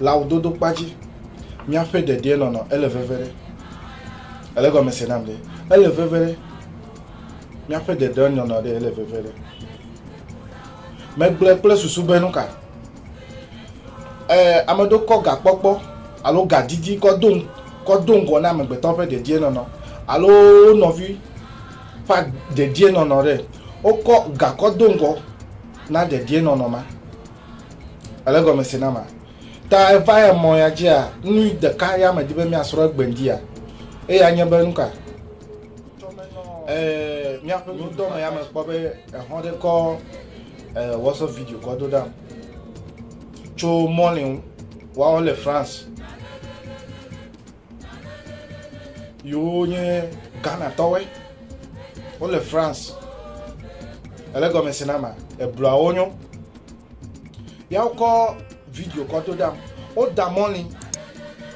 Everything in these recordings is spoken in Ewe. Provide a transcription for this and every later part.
Le awu dodo kpa dzi, míaƒe ɖeɖee nɔnɔ ele veve ɖe. Ele gɔme se nam ɖe. Ele veve ɖe. Míaƒe ɖeɖee nɔnɔ ɖe ele veve ɖe. Megblɔe kple susu be nu ka? Ee, ame ɖewo kɔ gakpɔkpɔ alo gadidi kɔ do kɔ do ŋgɔ na amegbetɔ ƒe ɖeɖee nɔnɔ alo wo nɔvi ƒe ɖeɖee nɔnɔ ɖe. Wokɔ gakɔ do ŋgɔ na ɖeɖee nɔnɔ ma. Ele gɔme se na ma. Ta eva ya mɔ ya dzia, nu ɖeka ya me di be miasrɔ̃ egbe ŋdia. Eya nye be nuka? Eh, miaƒe nudɔ me ya me kpɔ be ehɔn ɖe kɔ eh, WhatsApp video kɔ do ɖam. Tso mɔlin, wawo le France. Yewo nye Ghanatɔwoe. Wole France. Ele gɔme se na ma. Ebluawo nyo. Ya wokɔ video kɔ do ɖam. Woda mɔli.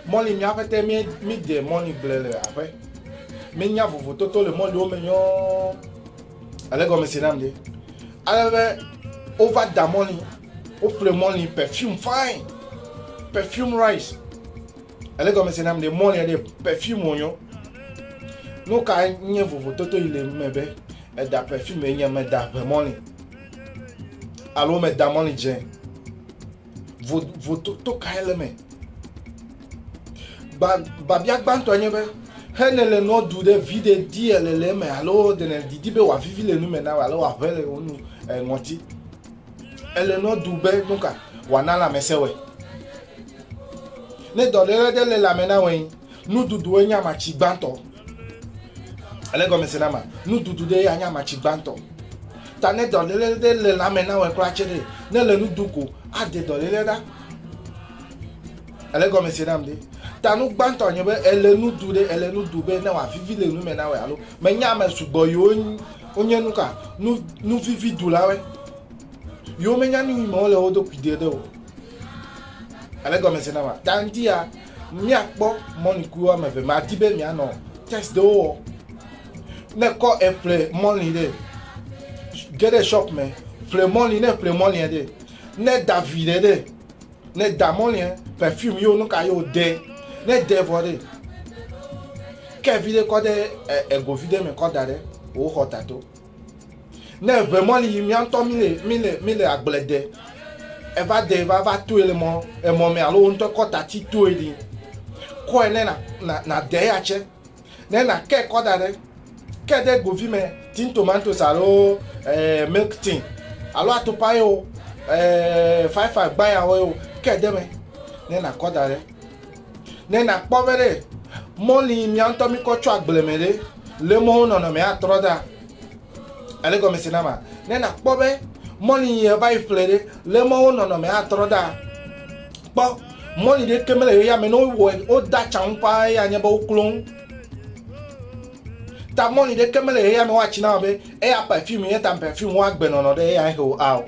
Mɔli mía ƒete mí mí de mɔli gble le aƒe. Mí nya vovototo le mɔliwo me nyɔɔ. Ele gɔme se nam de. Ale be wova da mɔli. Woƒle mɔli perfume fine. Perfume rice. ele gɔmese nam ɖe mɔli ɖe perfume wonyo nu ka nye vovototo yi le me be eda perfume nye meda ʋe mɔli alo meda mɔli dze vototo ka ele me babia gbãtɔ nye be hene le nɔ du ɖe vi ɖe di ele le eme alo ɖe ne didi be wòavivi le nu me na alo wòaʋe le wo nu eh, ŋɔti ele nɔ du be nu ka wòana lãmesẽ wɔe Ne dɔléle ɖe le lãme na wɛn, nuɖuɖuwoe nye amatsi gbãtɔ. Ele gɔme se na ma? Nuɖuɖu ɖe ya nye amatsi gbãtɔ. Ta ne dɔléle ɖe le lãme na wɛn kura tse ɖe, ne le nuɖu ko, aɖe dɔléle ɖa. Ele gɔme se nam ɖe? Ta nu gbãtɔ nye be ele nuɖu ɖe, ele nuɖu be ne wòavivi le nume na wɛ alo menye ame sugbɔ yiwo wonye nuka nu nuvivi ɖulawoe. Yiwo menya nu yi me wole wo ɖokui ɖe ɖe o. ale gɔmese na ma ta ŋuti ya míakpɔ mɔlikuku woame eve ma di be mianɔ test ɖewo wɔ ne kɔ eƒle mɔli ɖe ge ɖe shop me ƒle mɔli ne ƒle mɔlia ɖe ne da vi ɖe ɖe ne da mɔlia perfume yewo nuka yewo de ne de vɔ ɖe ke vi ɖe kɔ ɖe egovi ɖe me kɔ da ɖe wò xɔ tato. Ne eŋe mɔ ni yi mía ŋutɔ míle míle míle agble de eva de va va toe le mɔ emɔ mɛ alo wo ŋutɔ kɔ tati toe ɖi kɔe ne na na na de ya tse ne na ke kɔ da ɖe ke ɖe govi mɛ tin tomatoes alo ɛɛ milk tin alo atukpa ye o ɛɛ five five gbaya o ye o ke de mɛ ne na kɔ da ɖe. Ne nakpɔ be ɖe mɔli mía ŋutɔ mi kɔ tso agble me ɖe le mɔwo nɔnɔme atrɔ da ele gɔme se na ma ne nakpɔ be mɔli yi eva yi ƒle ɖe le mɔwo nɔnɔme atrɔ da kpɔ mɔli ɖe ke mele yɔya me ne wowɔ woda tsaŋu paa eya nye be woklo ŋu ta mɔli ɖe ke mele yɔya me woatsi na be eya perfume ye ta perfume woagbe nɔnɔ ɖe eya he o ao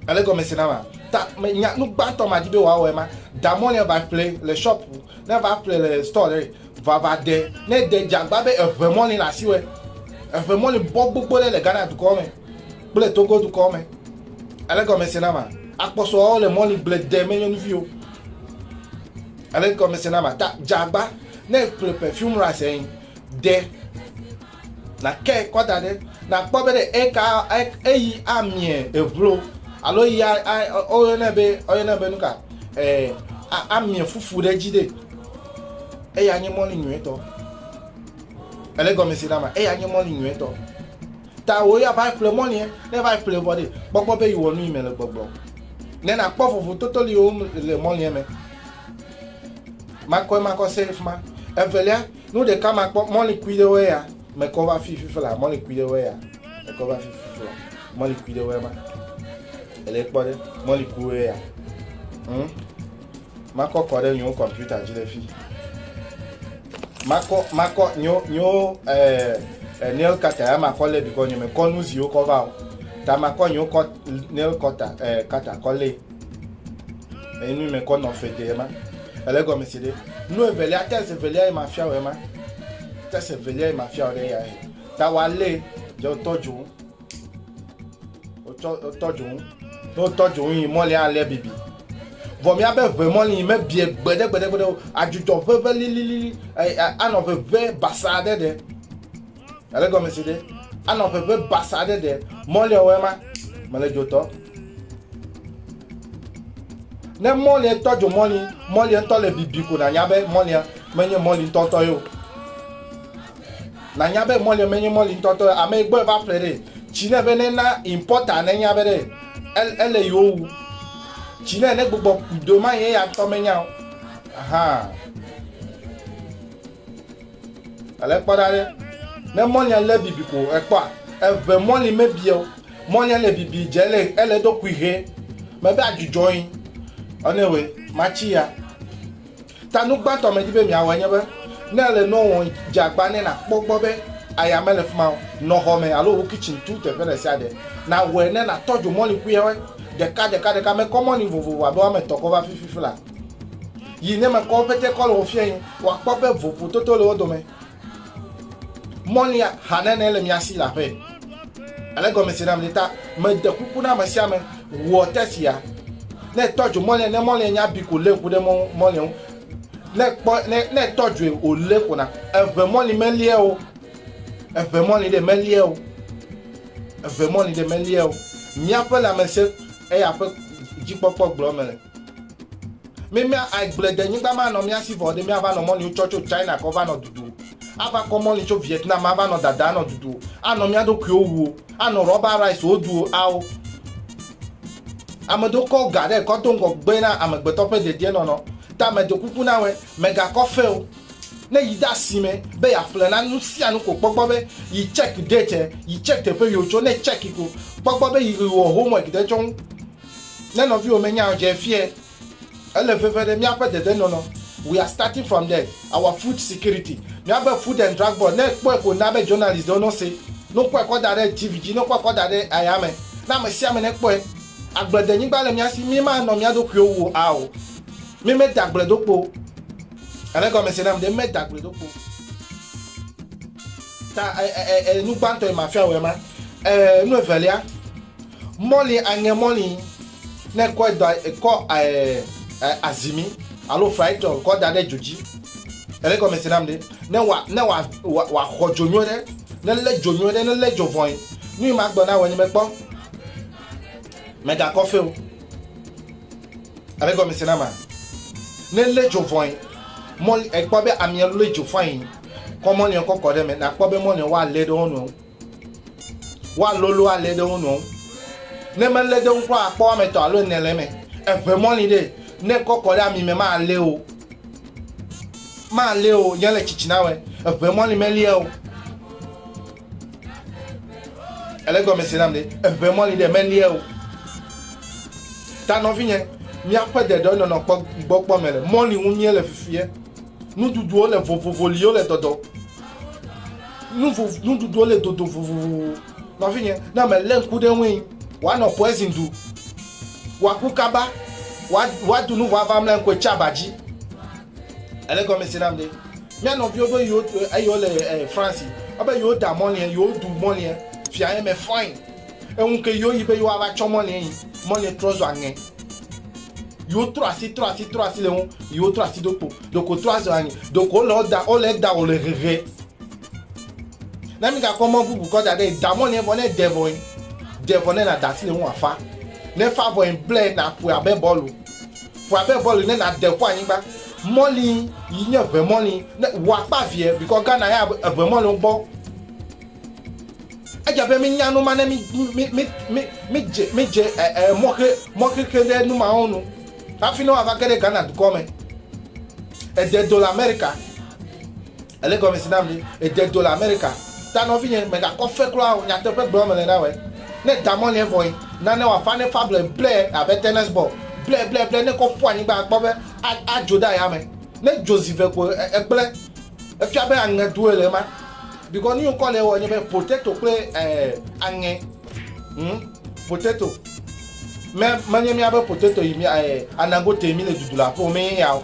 Ele gɔme se na ma. Ta me nya nu gbãtɔ ma di be wa wɔe ma. Da mɔ ne va ƒle le shop, ne va ƒle le store ɖe va va de. Ne de jagba be eʋe mɔ ne le asi wɛ. Eʋe mɔ ne bɔ gbogbo ɖe le Ghana dukɔ me. Kple Togo dukɔ me. Ele gɔme se na ma. Akpɔsɔ wa le mɔ ne gble de me nyɔnuvi o. Ele gɔme se na ma. Ta jagba ne ƒle perfume ra se de. Nàkɛ kɔ da ɖe, nàkpɔ be ɖe eka, eyi amiɛ eblo alo eyi a, a, woyɔnɛ be, woyɔnɛ be nuka, e, a, amiɛ fufu ɖe dzi ɖe. Eya nye mɔli nyuietɔ. Ele gɔmesi na ma, eya nye mɔli nyuietɔ. Ta wò ya va ƒle mɔliɛ, ne va ƒle vɔ ɖe, kpɔgbɔ be yi wɔ nu yi me le gbɔgblɔ. Ne nàkpɔ vovototoliwo le mɔliɛ me. Makɔmakɔ se fima. Evelia. Nu ɖeka ma kpɔ mɔli kui ɖe wɛ ya me kɔ va fi fifi la mɔli kui ɖe wɛ ya me kɔ va fi fifi la mɔli kui ɖe wɛ ma ele kpɔ ɖe mɔli kui wɛ ya hmm? makɔ kɔ ɖe nyewo kɔmputa dzi le fi makɔ makɔ nyewo nyewo ɛɛ eh, eh, nail cutter ya makɔ lé bikɔ nye me kɔ nu ziwo kɔ va o ta makɔ nyewo kɔ nail cutter ɛɛ eh, cutter kɔ lé. Eyi nu mekɔ nɔ fe de ema. Ele gɔme si ɖe. Nu evelia test evelia yi mafia wɔ ema. Test evelia yi mafia wɔ ɖe ya he. Ta wa le je otɔ jo. Otɔ otɔ jo. Ne otɔ jo yi mɔli ale bibi. Vɔ mi abe ʋe mɔli yi mebie gbede gbede gbede o. Adzudzɔ ʋeʋe lililili. Anɔ ʋeʋe basa ɖe ɖe. Ele gɔmesi ɖe? Anɔ ƒeƒe basa aɖe ɖe mɔliɔwɔe ma me le dzotɔ. Ne mɔliɛ tɔ dzo mɔli, mɔliɛ ŋutɔ le bibi ko nànya be mɔlia menye mɔli ŋutɔtɔ ye o. Nànya be mɔliɛ menye mɔli ŋutɔtɔ ye. Ame yi gbɔe va ƒle ɖe. Tsi ne be ne na impɔta ne nya be ɖe ele yi wowu. Tsi ne ne gbugbɔ do ma ye ya ŋutɔ menya o. Ahaa. Ale kpɔ ɖa ɖe, ne mɔlia lé bibi ko èkpɔa, eve mɔli mebia o. Mɔlia le bibi dze ele ele do kuihe mebe adzudzɔ yi. Ɔne we matsi ya. Ta nu gbãtɔ medi be miawɔe nye be ne ele nɔ wɔ dze agba ne nakpɔ gbɔ be aya mele fi ma o. Nɔ xɔ me alo wo kitchen tu teƒe ɖe sia ɖe. Nawɔe ne natɔ dzo mɔli kuihewe ɖeka ɖeka ɖeka mekɔ mɔli vovovo abe woame etɔ̃ kɔ va fifi fi la. yi ne mekɔ woƒe tekɔ le wo fia yi wòakpɔ be vovototo le wo dome mɔlia hanene le mia si le aƒe ale gɔme si nam ta mede kuku na ame sia ame wɔ tesia ne tɔ dzo mɔlia ne mɔlia nya bi ko lé ku ɖe mɔlia ŋu ne kpɔ ne ne tɔ dzoe o lé ko na eve mɔli melie o eve mɔli ɖe melie o eve mɔli ɖe melie o míaƒe lãmesẽ eya ƒe dzikpɔkpɔ gblɔ me le. Mi mia aigble de nyigba ma nɔ mia si vɔ ɖe mia va nɔ mɔli tsɔ tso China kɔ va nɔ dudu. A va kɔ mɔli tso Vietnam a va nɔ dada nɔ dudu. A nɔ mia ɖokuiwo wuo. A nɔ rɔba rice wo duo ao. Ame ɖo kɔ ga ɖe kɔ do ŋgɔ gbe na amegbetɔ ƒe dedie nɔnɔ. Ta me ɖo kuku na wɛ, me ga kɔ fe o. Ne yi ɖe asi me be ya ƒle na nu sia nu ko kpɔ gbɔ be yi check date e, yi check teƒe yi wo tso, ne check ko kpɔ gbɔ be yi ɣi wo homework ɖe tsɔ ŋu. Ne nɔviwò menya o dze fiae. Ele veve ɖe míaƒe dedenɔnɔ. We are starting from there. Our food security. Míabe Food and Drug Board, ne ekpɔe ko na be journalist ɖewo no se. Ne wokɔe kɔ da ɖe TV dzi, ne wokɔe kɔ da ɖe ayame. Na ame sia ame nekpɔe. Agbledenyigba le mía si. Mímanɔ mía ɖokuiwo wu o ao. Mímeda agble ɖo kpo o. Ele egɔme se nam ɖe. Mímeda agble ɖo kpo o. Ta e nu gbãtɔ yi mafia wòe ma. E nu evelia, mɔli aŋe mɔli ne kɔ da kɔ e azimi alo fraitɔ kɔ da ɖe dzo dzi. Ele gɔme se nam ɖe. Ne wa ne wa wa xɔ dzo nyuie ɖe, ne le dzo nyuie ɖe, ne le dzo vɔin. Nu yi ma gbɔ na wɔ nye me kpɔ. Me ga kɔfe o. Ele gɔme se na ma. Ne le dzo vɔin, mɔli ekpɔ be amia le dzo fain. Kɔ mɔnua kɔ kɔ ɖe me nakpɔ be mɔnua woalé ɖe wo nɔewo. Woalolo alé ɖe wo nɔewo. Ne melé ɖe wo kura akpɔ woame etɔ̃ alo ene le eme. Eŋe mɔli ɖe ne kɔ kɔ ɖe ami me malé o. Malé o, nye le tsitsi na wɛ. Eŋe mɔli melia o. ele gɔme si nam ɖe eʋe mɔli ɖe melie o ta nɔvinye míaƒe deɖe nɔnɔ kpɔ gbɔ kpɔ me le mɔli ŋu mie le fifie nuɖuɖuwo le vovovo liwo le dɔdɔ nuɖuɖuwo le dodo vovovo nɔvinye ne ame lé ŋku ɖe ŋui woanɔ poison du woaku kaba woadu nu vava mle ŋkue tsi aba dzi Ele gɔme se nam ɖe. Mía nɔviwo be yewo eyewo le eh, France. Ebe yewo da mɔliɛ, yewo du mɔliɛ. Fia ye me fɔin. Eŋu ke yewo yi be yewo ava tsɔ mɔliɛ yi. Mɔliɛ trɔ zu aŋɛ. Yewo trɔ asi, trɔ asi, trɔ asi le ŋu. Yewo trɔ asi ɖokpo. Ɖeko trɔ azu aŋɛ. Ɖeko wole wo da, wole da wole hehe. Ne mi gakpɔ mɔ bubu kɔ da ɖe yi. Da mɔliɛ vɔ ne de vɔ yi. De vɔ ne na da asi le ŋu afa. Ne fa vɔ yi blɛ na ƒoe abe bɔlu. Ƒoa be bɔli ne na de ƒo anyigba. Mɔli yi nye ʋe mɔli ne wɔ akpa vie bikɔ Ghana ya ʋe mɔli wo gbɔ. Edze be mi nya numa ne mi mi mi mi mi dze mi dze ɛ ɛ mɔxe mɔxexe ɖe numa wo nu. Hafi ne wa va ge ɖe Ghana dukɔ me. Ede do le America. Ele gɔmesi nam be ède do le Amerika ta nɔvinye, mègakɔ fe kura o, nyateƒe gblɔm mele na wòe. Ne da mɔliɛ vɔe, nane wòaʋã ne fable ble abe tennis bɔl blɛblɛblɛ, ne kɔ ƒu anyigba akpɔ be adzo ɖe ayame. Ne dzo zi ve ko egblẽ, efia be aŋe doe le ema. Bikɔ nu yi ŋkɔ le ewɔ nye be potato kple aŋe. Hm, potato. Menye míabe potato yi anagotee míle dudu le aƒewo me ye ya o.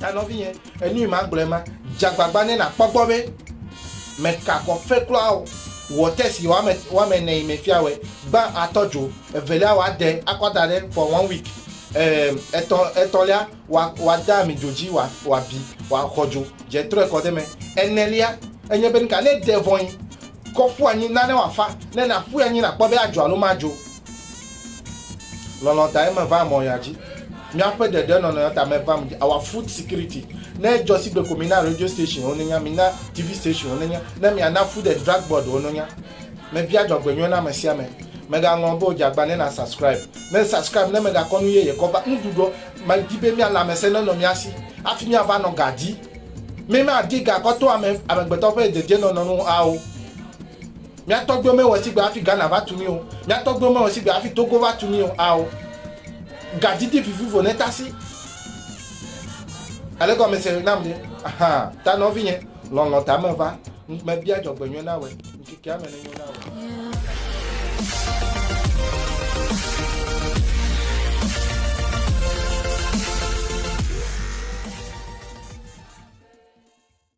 Ta nɔvinye, enui magblɔe ma, dze agbagba ne nàkpɔ gbɔ be mèka akɔ fe kura o. Wɔ tɛsti woame woame ene yi me fia wɛ, gbã atɔ dzo, evelia wɔ ade akɔ da ɖe for one week, eem, etɔ̃ etɔ̃lia wɔ wɔ ade ami dzo dzi wɔ wɔ abi wɔ akɔ dzo dze trɔe kɔ de me. Enelia enye be nuka? Ne ède vɔ̃ yi kɔ ƒu anyi nane wòafa, ne nàƒui anyi nakpɔ be adzɔ alo madzɔ o. Lɔlɔ tae me va mɔ ya dzi. Miaƒe ɖeɖe nɔnɔ ya ta me va dzi. Awa food security. Ne jɔ sigbe ko mina radio station wo nenya, mina TV station wo nenya. Ne miana food and drug board wo nenya. Me bia jɔgbe nyuie na me sia me. Me ga ŋlɔ be o djagba ne na subscribe. Ne subscribe ne me ga kɔ nu yeye kɔ va. Ŋu ɖuɖɔ. Me di be mia lamese ne nɔ mia si. Afi mia va nɔ ga di. Me ma di ga kɔ to ame, amegbetɔ ƒe dedie nɔnɔ nu ao. Mía tɔgbuiwo mewɔ sigbe hafi Ghana va tu mí o. Mía tɔgbuiwo mewɔ sigbe hafi Togo va tu mí o. Ao, gadidi vivivo netasi elegɔmese nam ɖe. Ahan, ta nɔvinye, lɔlɔ̃ ta meva, mebia dzɔgbenyui na wòe, ŋkekea me nenyo na wò.